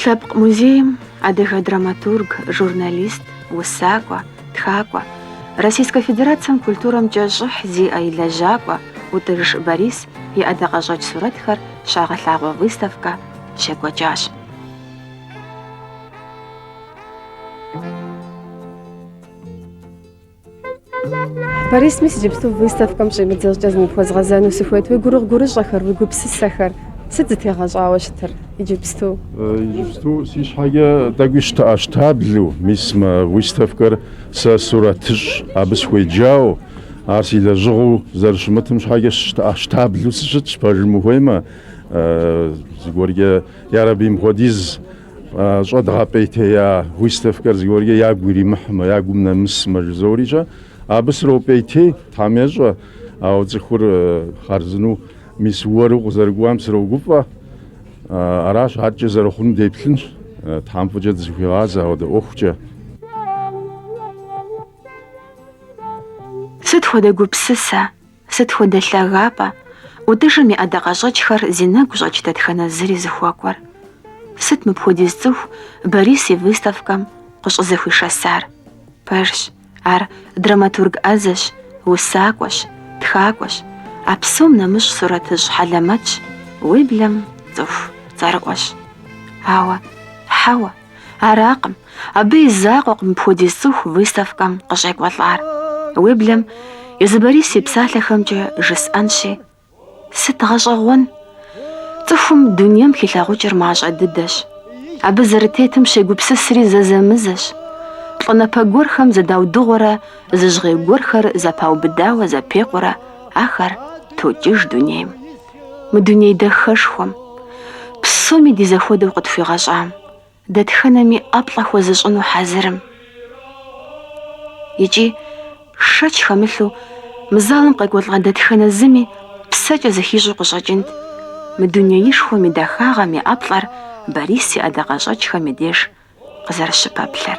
Лъэпкъ музейм адыгэ драматург, журналист, усакӏуэ, тхакӏуэ, Российскэ Федерацэм культурэмкӏэ щӏыхь зиӏэ и лэжьакӏуэ ӏутӏыж Борис и ӏэдакъэщӏэкӏ сурэтхэр щагъэлъагъуэ выставкэ щекӏуэкӏащ. Борис, мис иджыпсту выставкэм щӏимыдзэ щӏыкӏэ зыпхуэзгъэзэну сыхуейт. Уи гурыгъу-гурыщӏэхэр, уи гупсысэхэр сыт зытегъэщӏауэ щытыр иджыпсту? Иджыпсту си щхьэкӏэ тӏэкӏуи щтэӏэщтаблэу, мис мы выставкэр сэ сурэтыщӏ абы сыхуеджауэ, ар си лэжьыгъэу зэрыщымытым щхьэкӏэ щтэӏэщтаблэу сыщытщ, пэжым ухуеймэ, зыгуэркӏэ, ярэби, мыпхуэдиз щӏэдгъэпӏейтея выставкэр зыгуэркӏэ ягу иримыхьмэ, ягум нэмысмэ жызорикӏэ, абы сропӏейтей, Тхьэм ещӏэ, ауэ цӏыхур хъарзыну мис уэру къызэрыкӏуам срогуфӏэ. Аращ, адэкӏэ зэрыхъунум деплъынщ, Тхьэм фӏыкӏэ дызыхуигъазэ ауэдэ ӏуэхукӏэ. Сыт хуэдэ гупсысэ! Сыт хуэдэ лъагапӏэ ӏутӏыжым и ӏэдакъэщӏэкӏхэр зи нэгу щӏэкӏ дэтхэнэ зыри зыхуэкӏуэр? Сыт мыпхуэдиз цӏыху Борис и выставкэм къыщӏызэхуишэсар? Пэжщ, ар драматург ӏэзэщ, усакӏуэщ, тхакӏуэщ, а псом нэмыщӏ сурэтыщӏ хьэлэмэтщ, уеблэм цӏыху цӏэрыӏуэщ. Ауэ, хьэуэ. Аракъым, абы и закъуэкъым мыпхуэдиз цӏыху выставкэм къыщӏекӏуэлӏар. Уеблэм езы Борис и псалъэхэмкӏэ жысӏэнщи, сыт гъэщӏэгъуэн? Цӏыхум дунейм хилъагъукӏыр мащӏэ дыдэщ. Абы зэрытетым щегупсысри зэзэмызэщ. Плӏанэпэ гуэрхэм зыдаудыгъуэрэ зы жьгъей гуэрхэр зэпаубыдауэ зэпекъурэ ахэр токӏыж дунейм. мы дуней дахэшхуэм, псоми ди зэхуэдэу къытхуигъэщӏам, дэтхэнэми ӏэплӏэ хуэзыщӏыну хьэзырым. Икӏи, шэч хэмылъу, мы залым къекӏуэлӏа дэтхэнэ зыми псэкӏэ зыхищӏу къыщӏэкӏынт мы дунеишхуэм и дахагъэм и ӏэплӏэр Борис и ӏэдакъэщӏэкӏхэм и деж къызэрыщыпэплъэр.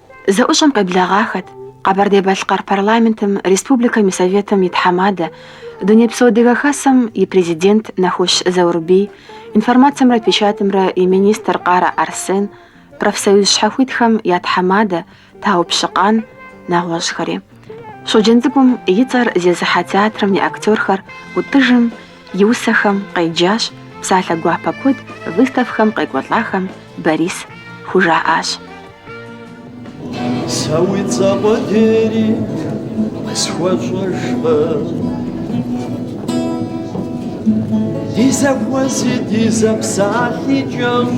Зэӏущӏэм къеблэгъахэт Къэбэрдей-Балъкъэр Парламентым Республикэм и Советым и тхьэмадэ, Дунейпсо Адыгэ Хасэм и Президент Нэхущ Заурбий, информацэмрэ печатымрэ и министр Къарэ Арсен, профсоюз щхьэхуитхэм я тхьэмадэ Тау Пщыкъан, нэгъуэщӏхэри. Щоджэнцӏыкӏум и цӏэр зезыхьэ театрым и актёрхэр Ӏутӏыжым и усэхэм къеджащ, псалъэ гуапэ куэд выставкэм къекӏуэлӏахэм Борис хужаӏащ. Сэ уи цӏэ къудейри къысхуэщӏэжкъым. Ди зэхуэзи ди зэпсалъи кӏэщӏщ.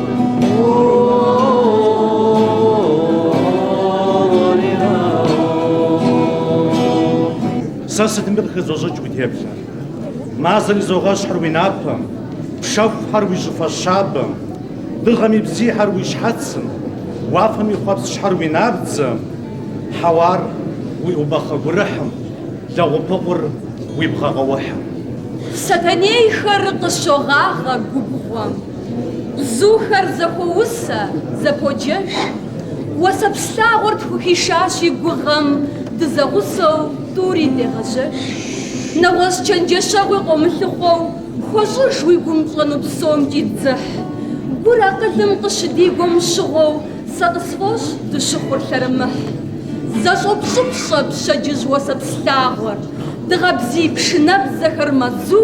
Сэ сытми къыхызощӏыкӏ уи теплъэр. Мазэр изогъэщхьыр уи напэм, пшэхухэр уи щӏыфэ щабэм, дыгъэм и бзийхэр уи щхьэцым, уафэм и хъуэпскӏхэр уи набдзэм, хьэуар уи ӏубахъэ гурыхьым, лэгъупыкъур уи бгъэ къэухьым. Сэтэнейхэр къыщогъагъэ губгъуэм. Бзухэр зэхуоусэ, зэподжэж. Уэсэпс лъагъуэр тхухишащ и гугъэм, дызэгъусэу тӏури дегъэжьэж. Нэгъуэщӏ чэнджэщэгъуи къомылъыхъуэу хуэщӏыж уи гум пщӏэну псомкӏи дзыхь. Гур акъылым къыщыдигуэм щыгъуэу сэ къысфӏощӏ дыщыхъур лъэрымыхь. Зэщӏопщӏыпщӏэ пщэдджыжь уэсэпс лъагъуэр, дыгъэ бзий пшынэбзэхэр мэзу.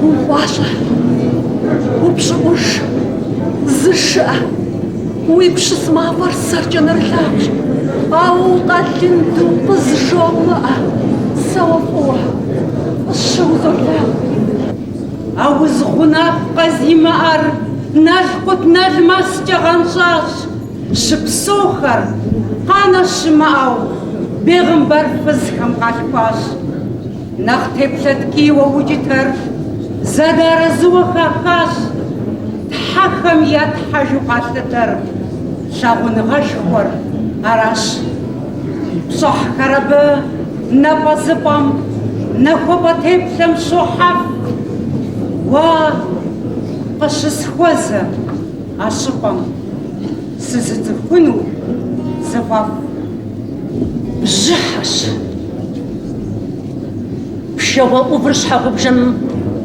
Гу гуащӏэ, упщӏыӏуж, зышыӏэ, уи пщыс мафӏэр сэркӏэ нэрылъагъущ, ауэ укъэлынду къызжумыӏэ, сэ уэ фӏыуэ фӏыщэу узолъагъу. Ауз гъунапкъэ зимыӏэр налкъутналмэскӏэ гъэнщӏащ, щыпсэухэр, къанэ щымыӏэу, бегъымбар фызхэм къалъхуащ. Нэхъ теплъэ ткӏийуэ укӏытэр зэдэарэзыуэ хахащ Тхьэхэм я Тхьэжу къалъытэр лъагъуныгъэшхуэр аращ. Пщӏыхьхэр абы напӏэзыпӏэм, нахуапӏэ теплъэм щохьэф. Уэ къыщысхуэзэ а щӏыпӏэм сызыцӏыхуну зыфӏэфӏ бжьыхьэщ. Пшэгъуэ ӏувыр щхьэгъубжэм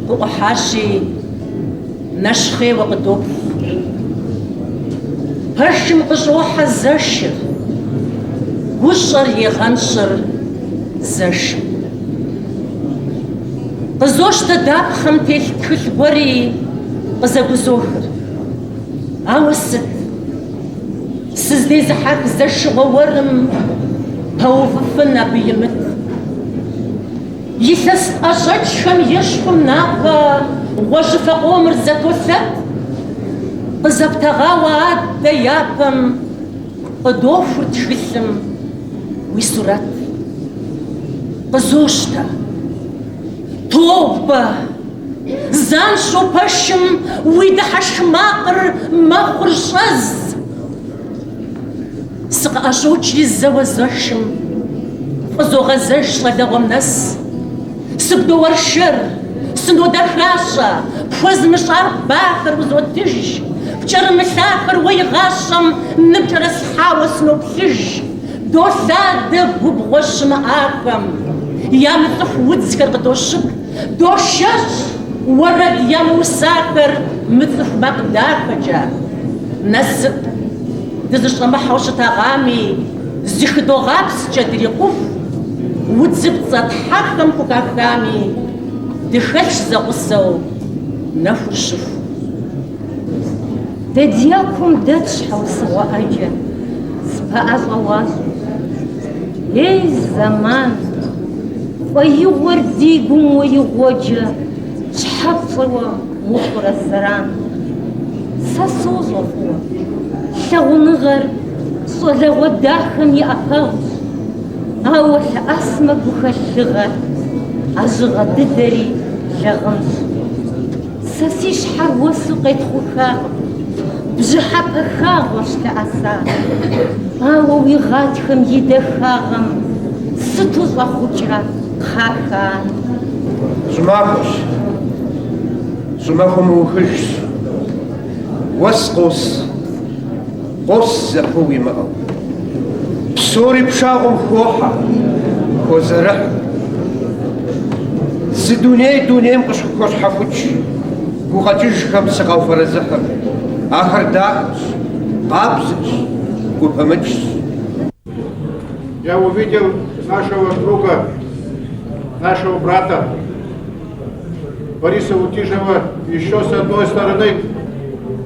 къыӏухьащи, нэщхъейуэ къыдоплъ. Пэшым къыщӏохьэ зэшыр, гущӏэр егъэнщӏыр зэшым. Къызощтэ дапхъэм телъ тхылъ гуэри къызэгузохыр. Ауэ сыт? Сыздезыхьэх зэшыгъуэ уэрым пэувыфын абы имыт. Илъэс сӏэщӏэкӏхэм ещхьу напэ гъуэжьыфэ къомыр зэтолъэт, къызэптэгъауэ адэ япэм къыдохур тхылъым уи сурэт. Къызощтэ. Тобэ! Занщӏэу пэшым уи дыхьэшх макъыр мэхъур щӏэз. Сыкъыӏэщӏокӏри зэуэ зэшым, фӏызогъэзэж щӏалэгъуэм нэс. Сыбдоуэршэр, сынодэхащӏэ, пхуэзмыщӏар бахэр узотыж, пкӏэрымылъахэр уэ игъащӏэм ныпкӏэрыслъхьауэ сыноплъыж, долъадэ губгъуэ щымыӏахэм, ямыцӏыху удзхэр къыдощып. Дошэщ уэрэд ямыусахэр мыцӏыху макъ дахэкӏэ. Насып дызыщӏэмыхьэу щытагъами, зыхыдогъапскӏэ дрикъуху, удзыпцӏэ тхьэхэм хухахами, дыхэлъщ зэгъусэу, нэхур щыху. Дэ дякум дэтщ щхьэусыгъуэ ӏэджэ, спэӏэщӏэ уащӏу. Ей, зэман! Фӏэигъуэр ди гум уэ игъуэджэ щхьэ пщӏыуэ ухъурэ зэран? Сэ сощӏэ фӏыуэ, лъагъуныгъэр щӏалэгъуэ дахэм и ӏэпэгъущ, ауэ лъэӏэсмэ гухэлъ лыгъэр, а жьыгъэ дыдэри лэгъынщ. Сэ си щхьэр уэсу къетхъухакъым, бжьыхьэпэ хагъуэщ лъэӏэсар. Ауэ уи гъатхэм и дахагъэм сыту щӏэхъукӏрэ кхъахэ ар. Щӏымахуэщ, щӏымахуэ мыухыжщ, уэс къос. Къос зэпыу имыӏэу. Псори пшагъуэм хохьэ, хозэрыхь. Зы дуней дунейм къысхухощхьэхукӏ, гукъэкӏыжхэм сыкъауфэрэзыхьыр. Ахэр дахэщ, къабзэщ, гупымыкӏщ. Я увидел нашего друга, нашего брата Бориса Утижева еще с одной стороны.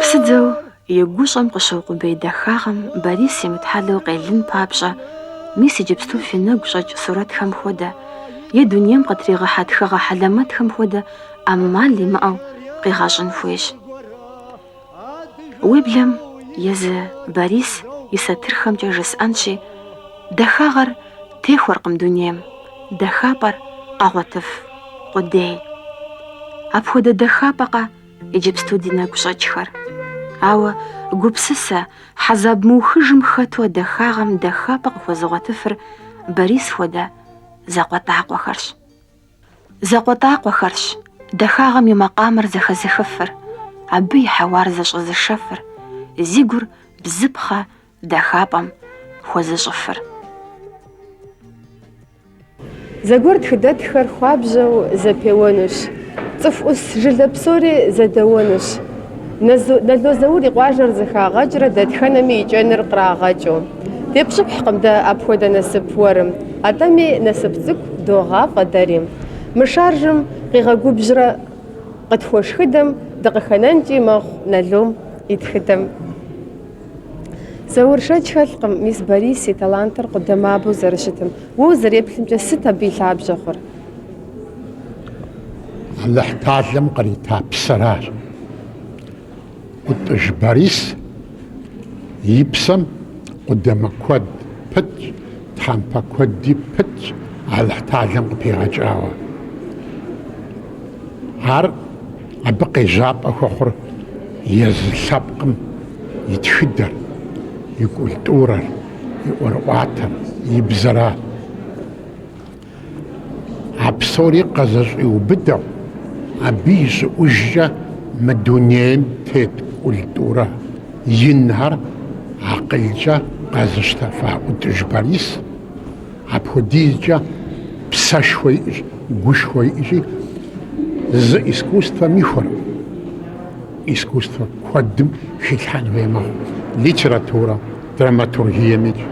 Псыдзэу и гущӏэм къыщыукъубей дахагъэм Борис имытхьэлэу къелын папщӏэ, мис иджыпсту фи нэгу щӏэкӏ сурэтхэм хуэдэ, е дунейм къытригъэхьэ тхыгъэ хьэлэмэтхэм хуэдэ ӏэмал имыӏэу къигъэщӏын хуейщ. Уеблэм езы Борис и сатырхэмкӏэ жысӏэнщи, дахагъэр техуэркъым дунейм дахапӏэр къэгъуэтыф къудей. Апхуэдэ дахапӏэкъэ иджыпсту ди нэгу щӏэкӏхэр. Ауэ гупсысэ, хьэзаб мыухыжым хэту а дахагъэм дахапӏэ къыхуэзыгъуэтыфыр Борис хуэдэ закъуэтӏакъуэхэрщ. Закъуэтӏакъуэхэрщ дахагъэм и макъамэр зэхэзыхыфыр, абы и хьэуар зэщӏэзышэфыр, зи гур бзыпхъэ дахапӏэм хуэзыщӏыфыр. Зэгуэр тхыдэтххэр хуабжьэу зэпеуэнущ, цӏыху ӏус жылэ псори зэдэуэнущ. Нало Заур и къуажэр зэхагъэкӏрэ дэтхэнэми и кӏэныр кърагъэкӏыу. Депщӏыхькъым дэ апхуэдэ насып уэрым, атӏэми насып цӏыкӏу догъафӏэ дэри. Мы шаржым къигъэгубжьрэ къытхуэшхыдэм дыкъыхэнэнкӏи мэхъу Налом и тхыдэм. Заур, шэч хэлъкъым мис Борис и талантыр къудамабэу зэрыщытым. Уэ узэреплъымкӏэ, сыт абы и лъабжьэ хъур? Алыхь талэм кърита псэращ. ӏутӏыж Борис и псэм къудамэ куэд пытщ, тхьэмпэ куэди пытщ Алыхь талэм къыпигъэкӏауэ. Ар абы къежьапӏэ хуэхъур езы лъэпкъым и тхыдэр, и культурэр, и ӏуэрыӏуатэр, и бзэра. А псори къэзэщӏиубыдэу, абы и щӏыӏужкӏэ мы дунейм тет культурэ инхэр акъылкӏэ къэзыщтэфа ӏутӏыж Борис. Апхуэдизкӏэ псэшхуэ иӏэщ, гушхуэ иӏэщи, зы искусствэм ихуэркъым, искусствэ куэдым хилъхьэн хуей мэхъу. Литературэ, драматургиемикӏ,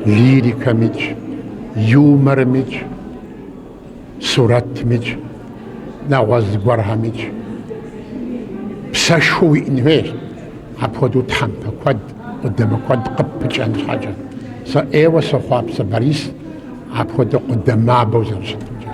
лирикэмикӏ, юморымикӏ, сурэтмикӏ, нэгъуэщӏ зыгуэрхэмикӏ. Псэшхуэ уиӏэн хуейщ, апхуэдэу тхьэмпэ куэд, къудамэ куэд къыппыкӏэн щхьэкӏэ. Сэ ӏейуэ сохъуапсэ Борис апхуэдэу къудамабэу зэрыщытымкӏэ.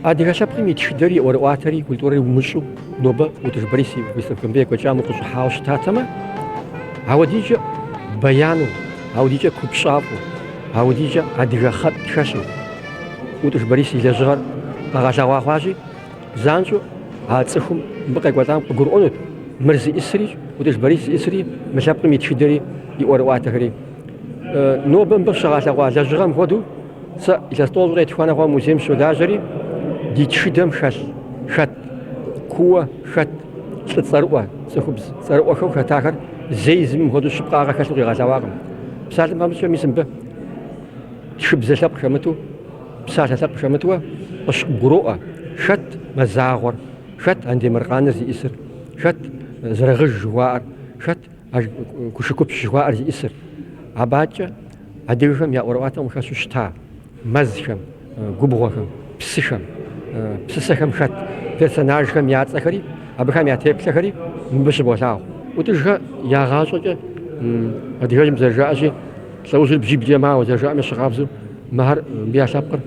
Адыгэ лъэпкъым и тхыдэри, и ӏуэрыӏуатэри, и культурэри умыщӏу нобэ ӏутӏыж Борис и выставкэмрэ екӏуэкӏам укъыщӏыхьауэ щытатэмэ, ауэдитӏкӏэ бэяну, ауэдитӏкӏэ купщӏафӏэу, ауэдитӏкӏэ адыгэ хъэтӏ хэлъу ӏутӏыж Борис и лэжьыгъэр къэгъэлъэгъуа хъуащи, Занщӏэу а цӏыхум мыбы къекӏуэлӏам къыгурыӏуэнут мыр зиӏысри, ӏутӏыж Борис зиӏысри, мы лъэпкъым и тхыдэри, и ӏуэрыӏуатэхэри. Нобэ мыбы щыгъэлъэгъуа лэжьыгъэм хуэдэу, сэ илъэс тӏощӏрэ етхуанэ хъуауэ музейм сыщолажьэри, ди тхыдэм хэлъ хэт, кууэ хэт лӏы цӏэрыӏуэ, цӏыхубз цӏэрыӏуэхэу хэтахэр зэи зыми мыхуэдэу щыпкъагъэ хэлъу къигъэлъэгъуакъым. Псалъэм папщӏэ, мис мыбы тхыбзэ лъэпкъ хэмыту, Псалъэ лъэпкъ хэмыту къыщыбгуроӏуэ, хэт Мазагъуэр, хэт Андемыркъаныр зиӏысыр, хэт зэрыгъыж жыхуаӏэр, хэт Кушыкупщ жыхуаӏэр зиӏысыр. Абакӏэ адыгэхэм я ӏуэрыӏуатэм къыхэщу щыта мэзхэм, губгъуэхэм, псыхэм, псысэхэм хэт персонажхэм я цӏэхэри, абыхэм я теплъэхэри мыбы щыболъагъу. ӏутӏыжхэр я гъащӏэкӏэ адыгэжьым зэрыжаӏэщи, Лӏэужьыр бжьиблкӏэ мауэ зэрыжаӏэм ещхьыркъабзэу мыхэр мыбы я лъэпкъыр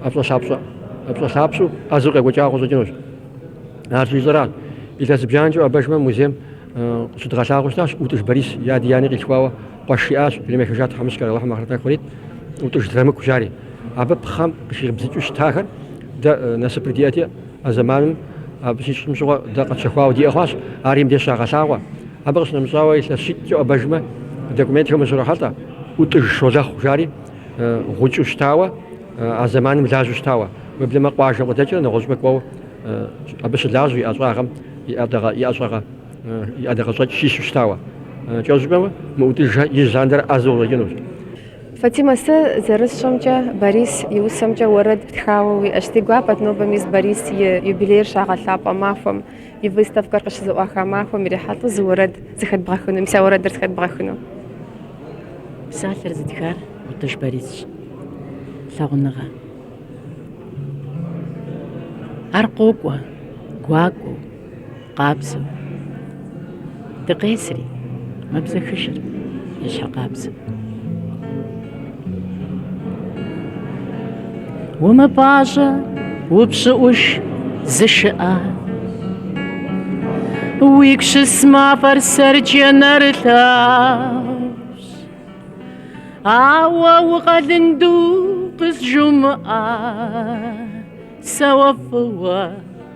ӏэпщӏэлъапщӏэу ӏэзэу къекӏуэкӏауэ къыщӏэкӏынущ. Ар щыжысӏэращ. Илъэс зыбжанэкӏэ уӏэбэжмэ, музейм щыдгъэлъагъуэу щытащ, ӏутӏыж Борис и ади и ани къилъхуауэ къуэш иӏащ, дунейм ехыжащ тхьэмыщкӏэр, Алыхьым ахърэт нэху кърит, ӏутӏыж Драмыку, жари. Абы пхъэм къыхибзыкӏыу щытахэр дэ насыпыр диӏэти, А зэманым абы щищӏым щыгъуэ дэ къэтщэхуауэ диӏэ хъуащ, ари мыбдеж щагъэлъагъуэ. Абы къыщынэмыщӏауэ, илъэс щитӏкӏэ уӏэбэжмэ, документхэм ущрохьэлӏэ ӏутӏыж Щолэхъу, жари, гъукӏэу щытауэ, а зэманым лажьэу щытауэ. Уеблэмэ къуажэм къыдэкӏрэ нэгъуэщӏыпӏэ кӏуэу абы щылажьэу и ӏэщӏагъэм и ӏэщӏагъэ, и ӏэдакъэщӏэкӏ щищэу щытауэ. Кӏэщӏу жыпӏэмэ, мы ӏутӏыжхэр ижь лъандэрэ ӏэзэу къыщӏэкӏынущ. Фатимэ, сэ зэрысщӏэмкӏэ, Борис и усэмкӏэ уэрэд птхауэ уиӏэщ. Си гуапэт нобэ мис Борис и юбилейр щагъэлъапӏэ махуэм, и выставкэр къыщызэӏуаха махуэм ирихьэлӏэу зы уэрэд зыхэдбгъэхыну. Мис а уэрэдыр зыхэдбгъэхыну? Псалъэр зытхар ӏутӏыж Борисщ. Лъагъуныгъэ. Ар къокӏуэ, гуакӏуэу. Къабзэу. Дыкъесри, мэбзэхыжыр и щхьэ къабзэу. Умыпӏащӏэ, упщӏыӏуж, зышыӏэ. Уигу щыс мафӏэр сэркӏэ нэрылъагъущ. Ауэ укъэлынду къызжумыӏэ, сэ уэ фӏыуэ.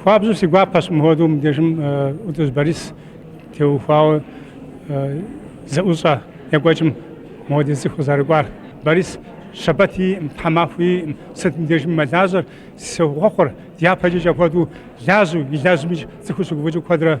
Хуабжьу си гуапэщ мыхуэдэу мыбдежым ӏутӏыж Борис теухуауэ зэӏущӏэ екӏуэкӏым мыхуэдиз цӏыху къызэрыкӏуар. Борис щэбэт иӏым, тхьэмахуэ иӏым, сыт мыбдежым мэлажьэр, сохъуэхъур дяпэкӏи апхуэдэу лажьэу, илэжьми цӏыхур щыгуфӏыкӏыу куэдрэ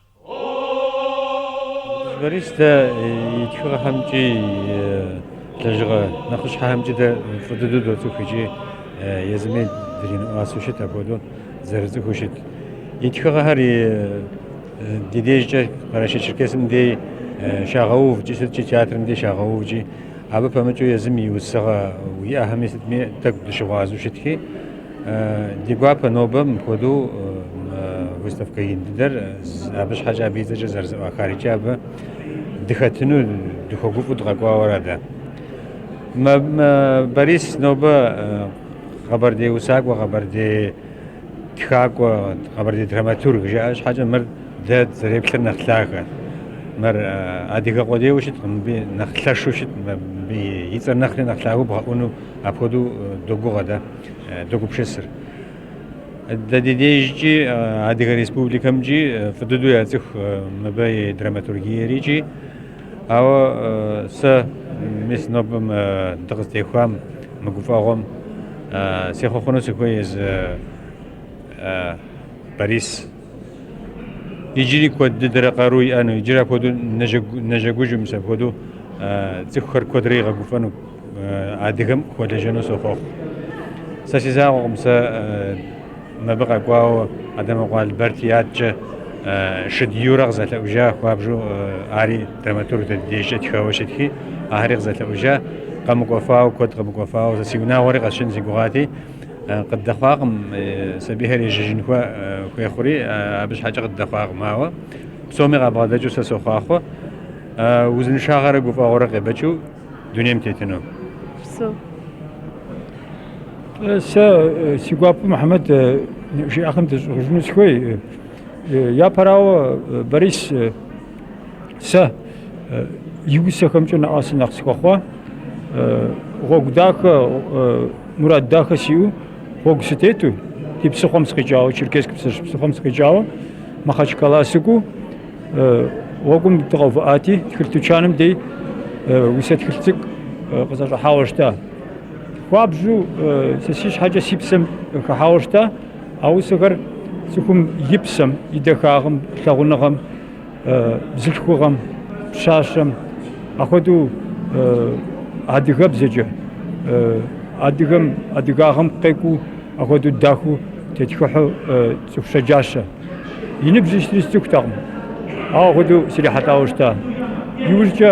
Борис, дэ и тхыгъэхэмкӏи и лэжьыгъэ нэхъыщхьэхэмкӏи дэ фӏы дыдэу доцӏых икӏи езыми дринэӏуасэу щыт апхуэдэу зэрыцӏыхуу щыт. И тхыгъэхэр ди дежкӏэ Къэрэшей-Черкесым дей щагъэув икӏи сыткӏи театрым дей щагъэув икӏи абы пэмыкӏыу езым и усыгъэу иӏэхэми сытми тӏэкӏу дыщыгъуазэу щытхи, Ди гуапэ нобэ мыпхуэдэу выставкэ ин дыдэр абы щхьэкӏэ абы и цӏэкӏэ зэрызэӏуахар икӏи абы дыхэтыну дыхуэгуфӏу дыкъэкӏуауэ ара дэ. Борис нобэ къэбэрдей усакӏуэ, къэбэрдей тхакӏуэ, къэбэрдей драматург жаӏэ щхьэкӏэ мыр дэ зэреплъыр нэхъ лъагэ. Мыр адыгэ къудейуэ щыткъым, мыбы нэхъ лъэшу щыт, мыбы и цӏэр нэхъри нэхъ лъагэу бгъэӏуну апхуэдэу догугъэ дэ. догупшысыр. Дэ ди дежкӏи Адыгэ Республикэмкӏи фӏы дыдэу яцӏыху мыбы и драматургиер икӏи. Ауэ сэ мис нобэм дыкъызтехуам мы гуфӏэгъуэм сехъуэхъуну сыхуей езы Борис Иджыри куэд дыдэрэ къару иӏэну, иджыри апхуэдэу нэжэгужу мис апхуэдэу цӏыхухэр куэдрэ игъэгуфӏэну адыгэм хуэлэжьэну сохъуэхъу. Сэ си закъуэкъым, сэ мыбы къэкӏуауэ Адэмокъуэ Алберти адэкӏэ Шыд Юрэ къызэлъэӏужа хуабжьу ари драматург дэ ди дежкӏэ тхауэ щытхи, ахэри къызэлъэӏужа, къэмыкӏуэфауэ, куэд къэмыкӏуэфауэ, сэ си унагъуэри къэсшэн си гугъати, къыддэхъуакъым, сабийхэр ежьэжын хуей хъури абы щхьэкӏэ къыддэхъуакъым. Ауэ псоми къабгъэдэкӏыу сэ сохъуахъуэ узыншагъэрэ гуфӏэгъуэрэ къебэкӏыу дунейм тетыну. Псо. Сэ си гуапэу Мухьэмэд жиӏэхэм дыщӏызгъужыну сыхуей. Япэрауэ, Борис, Сэ и усэхэмкӏэ нэӏуасэ нэхъ сыхуэхъуа. Гъуэгу дахэ, мурад дахэ сиӏэу, гъуэгу сытету, ди псыхъуэм сыкъикӏауэ, Черкесск Псыжь псыхъуэм сыкъикӏауэ, Махачкала сыкӏуэу, гъуэгум дыкъэувыӏати, тхылъ тучаным дей усэ тхылъ цӏыкӏу къысӏэщӏыхьауэ щыта. Хуабжьу сэ си щхьэкӏэ си псэм хэхьауэ щыта. А усэхэр цӏыхум и псэм, и дахагъым, лъагъуныгъэм, бзылъхугъэм, пщащэм, апхуэдэу адыгэбзэкӏэ, адыгэм, адыгагъэм къекӏуу апхуэдэу дахэу тетхыхьу цӏыху щэджащэ. И ныбжь сытри сцӏыхутэкъым, ауэ апхуэдэу срихьэлӏауэ щыта. Иужькӏэ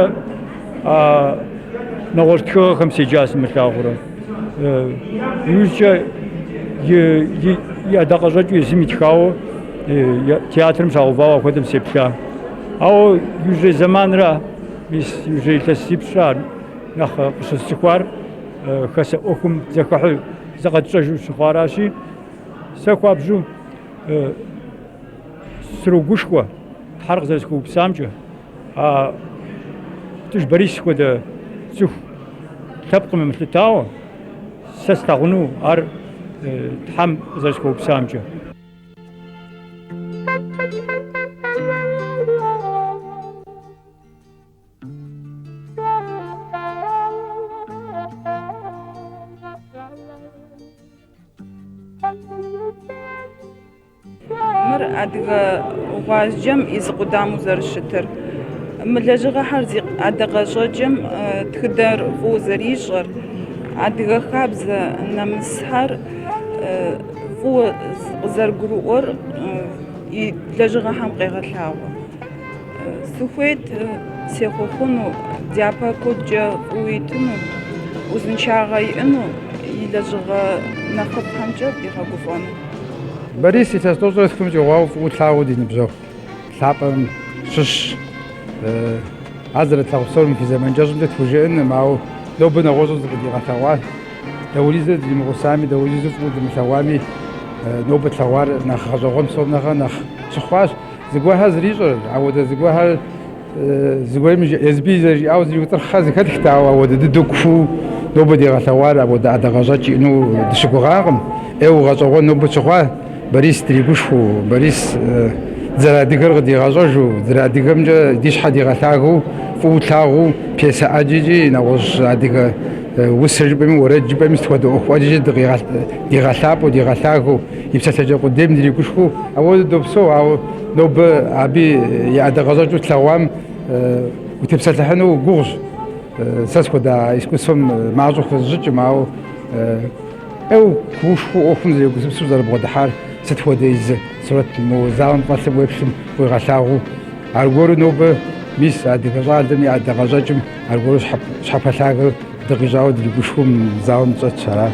нэгъуэщӏ тхыгъэхэм седжа сымылъагъурэ. Иужькӏэ и ӏэдакъэщӏэкӏыу езым итхауэ театрым щагъэувауэ апхуэдэм сеплъа. Ауэ иужьрей зэманра, мис иужьрей илъэсипщӏра нэхъ къыщысцӏыхуар хасэ ӏуэхум зэхыхьу зыкъэтщӏэжу щыхъуаращи, сэ хуабжьу срогушхуэ Тхьэр къызэрысхуэупсамкӏэ. А ӏутӏыж Борис хуэдэ цӏыху лъэпкъым емылъытауэ, сэ слъагъуну ар Тхьэм къызэрысхуэупсамкӏэ. Мыр адыгэ гъуазджэм и зы къудамэу зэрыщытыр, мы лэжьыгъэхэр зи ӏэдакъэщӏэкӏэм тхыдэр фӏыуэ зэрищӏэр, адыгэ хабзэ нэмысхэр фӏыуэ къызэрыгурыӏуэр и лэжьыгъэхэм къегъэлъагъуэ. Сыхуейт сехъуэхъуну, дяпэ куэдкӏэ фӏыуэ итыну, узыншагъэ иӏэну, и лэжьыгъэ нэхъыфӏхэмкӏэ къигъэгуфӏэну. Борис илъэс тӏощӏрэ тхум щӏигъуауэ фӏыуэ тлъагъуу ди ныбжьэгъу лъапӏэм щыщщ. Ар зэрытлъагъу псор мы фи зэман кӏэщӏымкӏэ тхужыӏэнкъым, ауэ нобэ нэгъуэщӏу зыкъыдигъэлъэгъуа, дауриз дримыгъусами, дауриз фӏыуэ дымылъэгъуами, нобэ тлъэгъуар нэхъ гъэщӏэгъуэн псом нэхърэ нэхъ тщыхъуащ. Зыгуэрхэр зэрищӏэр, ауэдэ зыгуэрхэр зыгуэрым Езбий зэрыжиӏауэ зриутӏырхъхэр зыхэтхт, ауэ ауэдэ дыдэу кууэ нобэ дигъэлъэгъуар ауэдэ ӏэдакъэщӏэкӏ иӏэну дыщыгугъакъым. ӏейуэ гъэщӏэгъуэн нобэ тщыхъуа Борис дригушхуэу, Борис дызэрыадыгэр къыдигъэщӏэжу, дызэрыадыгэмкӏэ ди щхьэ дигъэлъагэу, фӏыуэ тлъагъуу, пьесэ ӏэджэкӏи, нэгъуэщӏ адыгэ усэ жыпӏэми, уэрэд жыпӏэми, сыт хуэдэ ӏуэху ӏэджэкӏи дыкъигъэлъ, дигъэлъапӏэу, дигъэлъагэу. И псалъэкӏэ къудейм дыригушхуэу ауэду допсэу, ауэ нобэ абы и ӏэдакъэщӏэкӏыу тлъэгъуам утепсэлъыхьыну гугъущ. Сэ схуэдэ а искусствэм мащӏэу хэзыщӏыкӏым, ауэ ӏейуэ куушхуэу ӏуэхум зэрегупсысу зэрыбгъэдыхьар сыт хуэдэ езы сурэт мо залым фӏэлъым уеплъым къуигъэлъагъуу. Аргуэру нобэ, мис, адыгэ щӏалэм и ӏэдакъэщӏэкӏым аргуэру щхьэпэлъагэ дыкъищӏауэ дыригушхуэу мы залым дыщӏэтщ. Аращ.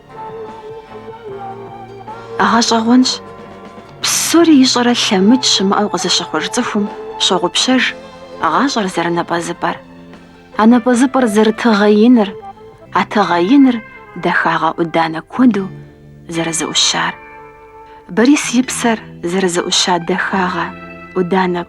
Гъэщӏэгъуэнщ. Псори ищӏэрэ лъэмыкӏ щымыӏэу къызыщыхъуж цӏыхум щогъупщэж гъащӏэр зэрынапӏэзыпӏэр, а напӏэзыпӏэр зэрытыгъэ иныр, а тыгъэ иныр дахагъэ ӏуданэ куэду зэрызэӏущар. Борис и псэр зэрызэӏуща дахагъэ ӏуданэ